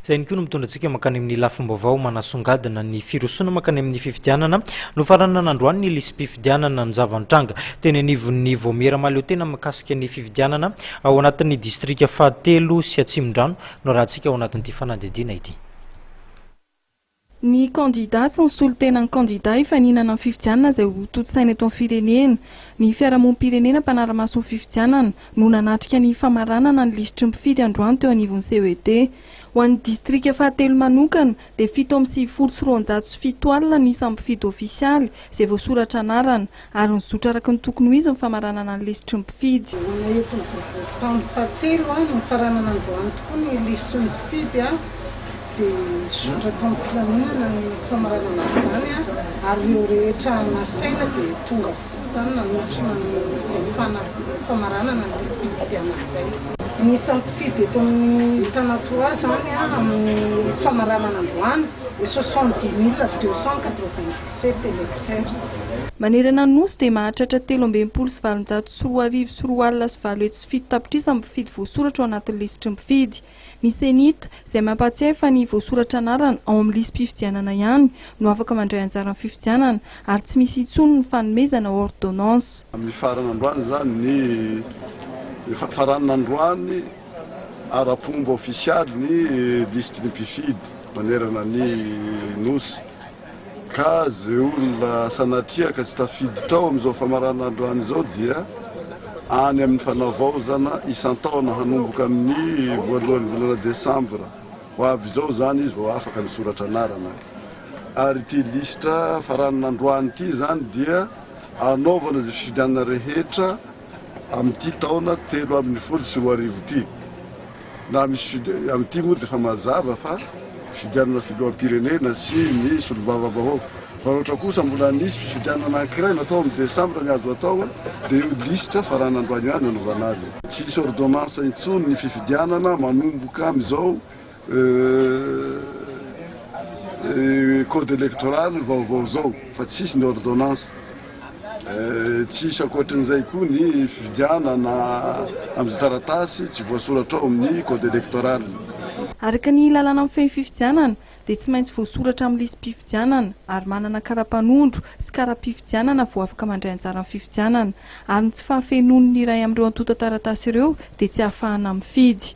Izay ihany koa no mitondra antsika mankany amin'ny lafim-baovao manasongadina ny firosoana mankany amin'ny fifidianana. Nofaranana androany ny lisi-pifidianana. Ny zava-nitranga teny anivon'ny Vaomiera mahaleotena mikasika ny fifidianana ao anatin'ny distrika fahatelo sy Atsimondrano no arahantsika ao anatin'ity fanadihadiana ity. Ny kandida sy ny solontenan'ny kandida hifaninana ny fifidianana izay ho tontosaina eto amin'ny firenena. Ny fiarahamonim-pirenena mpanara-maso ny fifidianana no nanatrika ny famaranana ny lisitry ny mpifidy androany teo anivon'ny CED. Ho an'ny distrika fahatelo manokana dia fito amby sivifolo sy roanjato sy fito alina ny isan'ny mpifidy ofisialy izay voasoratra anarana. Ary ny zotra araka ny tokony ho izy ny famaranana ny lisitry ny mpifidy. Hoanay eto ny boribory taona fahatelo, ny nifaranana androany tokoa ny lisitry ny mpifidy dia ny zotra tao am-pilaminana ny famaranana izany ary ireo rehetra nasaina dia tonga avokoa izany nanotrona izay famaranana ny lisi-pifidianana izay. Ny isan'ny mpifidy eto amin'ny Tanatoa izany amin'ny famaranana androany. et soixante-dix mille deux cent quatre-vingt-dix-sept électeurs. Manerana ny Nosy dia mahatratra telo ambin'ny folo sy valonjato sy roa arivo sy roa alina sy valo hetsy sy fito tapitrisa ny mpifidy voasoratra ao anatin'ny lisitry ny mpifidy. Ny Cenit, izay mampahatsiahy fa ny voasoratra anarana ao amin'ny lisi-pifidianana ihany no afaka mandray anjara amin'ny fifidianana ary tsy misy intsony ny fanomezana ôrdônansa. Mifarana androany izany ny, efa faranana androany Ara-pomba ofisialy ny lisitry ny mpifidy manerana ny Nosy ka ze olona sanatria ka tsy tafiditra ao amin'izao famaranandro any izao dia any amin'ny fanavaozana isan-taona hanomboka amin'ny voalohan'ny volana desambra ho avy izao izany izy vao afaka misoratra anarana ary ity lisitra faranina androany ity izany dia anaovana izay fifidianana rehetra amin'ity taona telo ambin'ny folo sy roa arivo ity. Na ny sud amin'ity moa dia efa mazava fa fifidianana filoham-pirenena sy ny solombavambahoaka. Fa raha ohatra kosa mbola nisy fifidianana anankiray natao amin'ny desambra ny azo atao dia io lisitra farany androany io ihany anaovana azy. Tsy hisy ordonnance intsony ny fifidianana manomboka amin'izao Code electoral vaovao zao fa tsisy ny ordonnance tsisy ankoatrin'izay koa ny fifidianana amin'izay taratasy tsy voasoratra ao amin'ny code electoral. Araka ny lalàna mifehy ny fifidianana dia tsy maintsy voasoratra amin'ny lisi-pifidianana ary manana karapanondro sy kara-pifidianana vao afaka mandray anjara amin'ny fifidianana ary ny tsy fahafenoan'ny iray amin'ireo antontan-taratasy ireo dia tsy ahafahana mifidy.